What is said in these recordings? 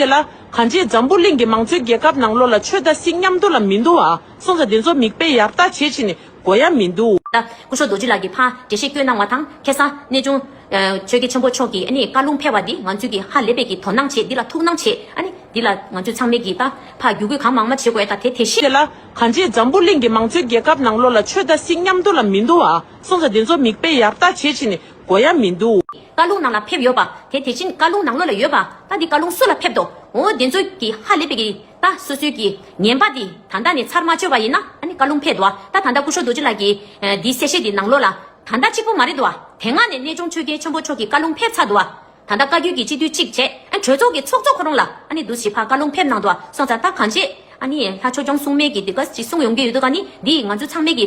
དེ་ལ། གང་རྗེས་འཛམ་བུ་གླིང་གི་མང་གཙོའི་རྒྱལ་ཁབ་ནང་ལོ་ལ་ཆོས་དད་སྲིད་མཉམ་འདུ་ལ་མི་འདུ་བ། སྲོང་བཙན་དེ་ཚོ་མིག་དཔེ་ཡར་བལྟ་བྱེད་བྱེད་ནས་མགོ་ཡར་མི་འདུ། སྐུ་ཞོ་རྡོ་རྗེ་ལགས་ཀྱི་ཕ་འདྲེ་ཤེས་སྐྱོན་གནང་བ་དང་ཁེ་ས་གནས་ཆུང། ཆོས་རྒྱལ་ཆེན་པོ་མཆོག་གིས་ནི་བཀའ་ལུང་ཕེར་བ་འདི་ང་ཚོས་ཀྱི་ཧ་ལས་པས་ཀྱི་དོ་སྣང་བྱེད་འདི་ལ་ཐུགས་སྣང་བྱེད། འདི་ལ་ང་ཚོས་ཚང་མས་ཀྱི་ད་ཕ་རྒྱུད་སྐུལ་གང་མང་མ་བྱེད་དགོས་ད་དེ་དེ་ཤེས། དེ་ལ། གང་རྗེས་འཛམ་བུ་གླིང་གི་མང་གཙོའི་རྒྱལ་ཁབ་ནང་ལོ་ལ་ཆོས་དད་སྲིད་མཉམ་འདུ་ལ་མི་འདུ་བ། སྲོང་བཙན་དེ་ཚོ་མིག་དཔེ་ཡར་བལྟ་བྱེད་བྱེད་ནས་གོ་ཡ་མི་འདུག། བཀའ་ལུང་ནང་ལ་ཕེབས་ཡོད་པ་དེ་དེ་བཞིན་བཀའ་ལུང་ནང་ལོ་ལ་ཡོད་པ་ད་འདི་བཀའ་ལུང་སུ་ལ་ཕེབས་དོ་འོ་འདི་ཚོ་གི་ཧ་ལས་པའི་གི་ད་སུ་སུའི་གི་ངན་པ་འདི་ད་ད་ནས་ཚར་མ་བཅོས་པ་ཡིན་ན་ཨ་ནི་བཀའ་ལུང་ཕེབས་དོ་ད་ད་སྐུ་ཤོ་རྡོ་རྗེ་ལགས་གི་འདི་གསལ་བཤད་འདི་ནང་ལོ་ལ་ད་ད་གཅིག་པོ་མ་རེད་དོ་དེ་སྔ་ནས་གནས་ཆུང་ཆོས་རྒྱལ་ཆེན་པོ་མཆོག་གི་བཀའ་ལུང་ཕེབས་ཚར་དོ་ད་ད་བཀའ་བརྒྱུད་གི་སྤྱི་འཐུས་གཅིག་བྱས་ཨ་གྲོས་ཚོགས་གི་ཚོགས་གཙོ་ཁོ་རང་ལ་ཨ་ནི་འདུ་བྱེད་ཕ་བཀའ་ལུང་ཕེབས་གནང་དོ་སོང་ཚར་ད་གང་བྱས་ཨ་ནི་ལྷ་ཆོས་སྐྱོང་སྲུང་མས་གི་འདི་ག་ཅིག་གསུང་ཡོང་གི་ཡོད་དོ་ག་ནི་འདི་ང་ཚོ་ཚང་མས་གི་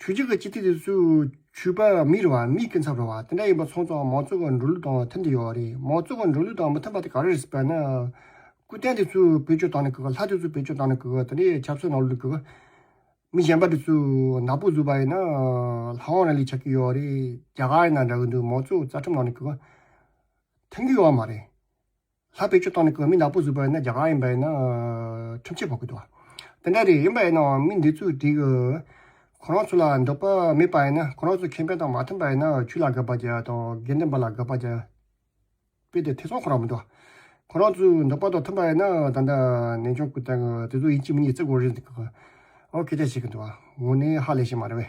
ཆུ་རྒྱུས་ཀྱི་སྤྱི་ཐེ་དེ་ཚོས་ཆུ་པ་མི་རུ་བ་མིས་ཀུན་ཚབ་རུ་བ་དེ་འདྲ་ཡིན་པ་མཚོན་ཙང་མང་གཙོ་གི་འགྲོ་ལུགས་དང་མཐུན་དུ་ཡོད་རེད་མང་གཙོ་གི་འགྲོ་ལུགས་དང་མི་མཐུན་པ་དེ་ག་རེ་རེད་ཟེར་བ་ན། སྐུ་རྟེན་དེ་ཚོས་བེད་སྤྱོད་བཏང་ནས་གི་གི་ལྷ་དེ་ཚོས་བེད་སྤྱོད་བཏང་ནས་གི་གི་དེ་འདྲའི་ཆབ་སྲིད་ནང་ལུགས་ཀྱི་གི། མི་གཞན་པ་དེ་ཚོས་ནག་པོ་བཟོས་པ་ཡིན་ན། ལྷ་དབང་ར་ལས་ཆགས་ཀྱི་ཡོད་རེད་རྒྱ་གར་ཡིན་ན་འདྲ་གི་འདུག་མང་གཙོ་རྩ་ཁྲིམས་ནང་ནས་གི་གི། མཐུན་གྱི་ཡོད་མ་རེད། ལྷག་པའི་ཆུ་བཏང་ནས་གོས་མི་ནག་པོ་བཟོས་པ་ཡིན་ན་རྒྱ་གར་ཡིན་པ་ཡིན་ན་ཁྲིམས་ཆད་ཕོག་གི་འདུག་དེ་འདྲ་རེད་ཡིན་པ་ཡིན་ནའང་མི་འདི་ཚོས་དེ་ཁོ་རང་ཚོ་ལ་འདོད་པ་མེད་པ་ཡིན་ན་ཁོ་རང་ཚོ་ཁེ་ཕན་དང་མ་མཐུན་པ་ཡིན་ན་ཆུ་ལ་དགའ་བ་བརྒྱ་དང་དགེ་འདུན་པ་ལ་དགའ་བ་བརྒྱ་སྤེལ་ཏེ་ཐེ་ཚོམ་ཁོ་རང་མི་འདུག་ཁོ་རང་ཚོའི་འདོད་པ་དང་མཐུན་པ་ཡིན་ན་ད་ལྟ་ནན་ཆུང་སྐུ་དང་དེ་ཚོ་ཡིན་གཅིག་མིན་གཉིས་བརྩི་དགོས་རེད་འདུག་ཨོ་ཁེ་ཆ་ཞིག་གི་འདུག་ངོ་ནས་ཧ་ལས་ཤིག་མ་རེད་བས།